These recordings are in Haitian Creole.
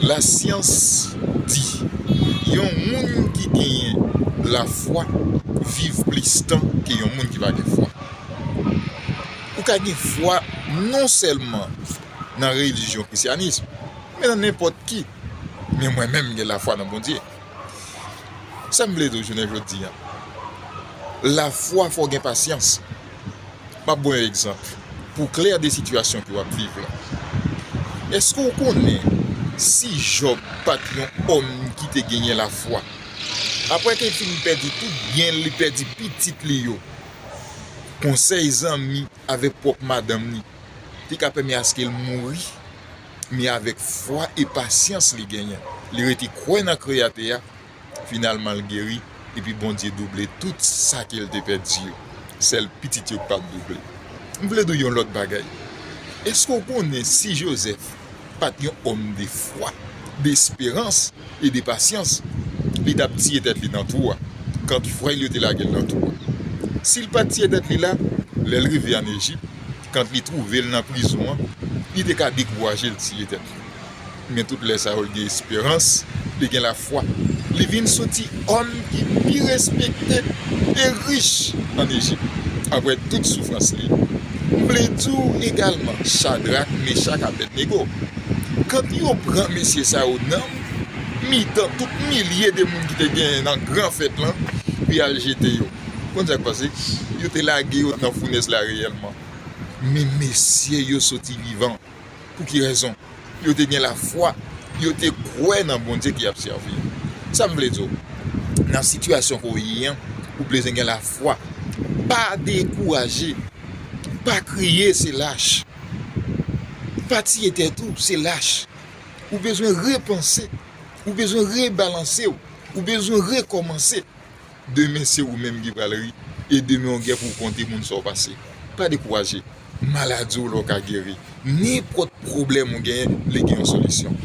Lasyans di, Yon moun ki genyen lafwa viv plis tan ke yon moun ki pa gen fwa. Ou ka gen fwa non sèlman nan relijyon krisyanism, men nan nenpòt ki. Men mwen menm m gen lafwa nan Bondye. Sa m vle di w jounen jodi an, lafwa fò w gen pasyans. M ap ban w yon egzanp pou w klè de sitiyasyon ke w ap viv la. Èske w konnen si Jòb pa t yon òm ki te genyen lafwa, apre te fin pèdi tout byen l, li pèdi pitit li yo, konsèy zanmi avèk pwòp madanm li te ka pèmè aske l mouri, men avèk fwa e pasyans li genyen, li rete kwè nan Kreyatè a, Finalman l geri, epi Bondye double tout sa ke l te pèdi yo. Sèl pitit yo k pa t double. M vle di w yon lòt bagay. Èske w konnen si Jozèf pa t yon òm de fwa, de esperans e de pasyans, li t ap tiye tèt li nan twou a, kant frè l yo te lage l nan twou a? Si l pa t tiye tèt li la, lè l rive ann Ejip, kant li twouve l nan prizon an, li te ka dekouraje l tiye tèt li. Men tout lè sa yo li gen esperans, li gen lafwa. Li vin soti òm ki pi respekte e rich ann Ejip, apre tout soufrans li. M vle di w egalman, Chadrak, Mechak, Abèdnego, kant yo pran mesye sa yo nan mitan tout milye de moun ki te genyen nan gran fèt lan pou y al jete yo, konn sa k pase? Yo te lage yo nan founèz la reyèlman, men mesye yo soti vivan. Pou ki rezon? Yo te gen lafwa, yo te kwè nan Bondye ki ap sèvi yo. Sa m vle di w, nan sitiyasyon ke w ye an, ou bezwen gen lafwa. Pa dekouraje, pa kriye se lach, pa tiye tèt ou se lach. Ou bezwen repanse, ou bezwen rebalanse w, ou bezwen rekòmanse. demen se ou menm ki pral ri e demen ou gen pou w konte moun sa w pase. Pa dekouraje, maladi w la w ka geri, nenpòt pwoblèm ou genyen li gen yon solisyon.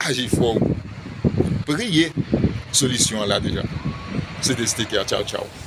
Aji fò ou priye, solisyon an la deja. Se te Steker, tchaw tchaw.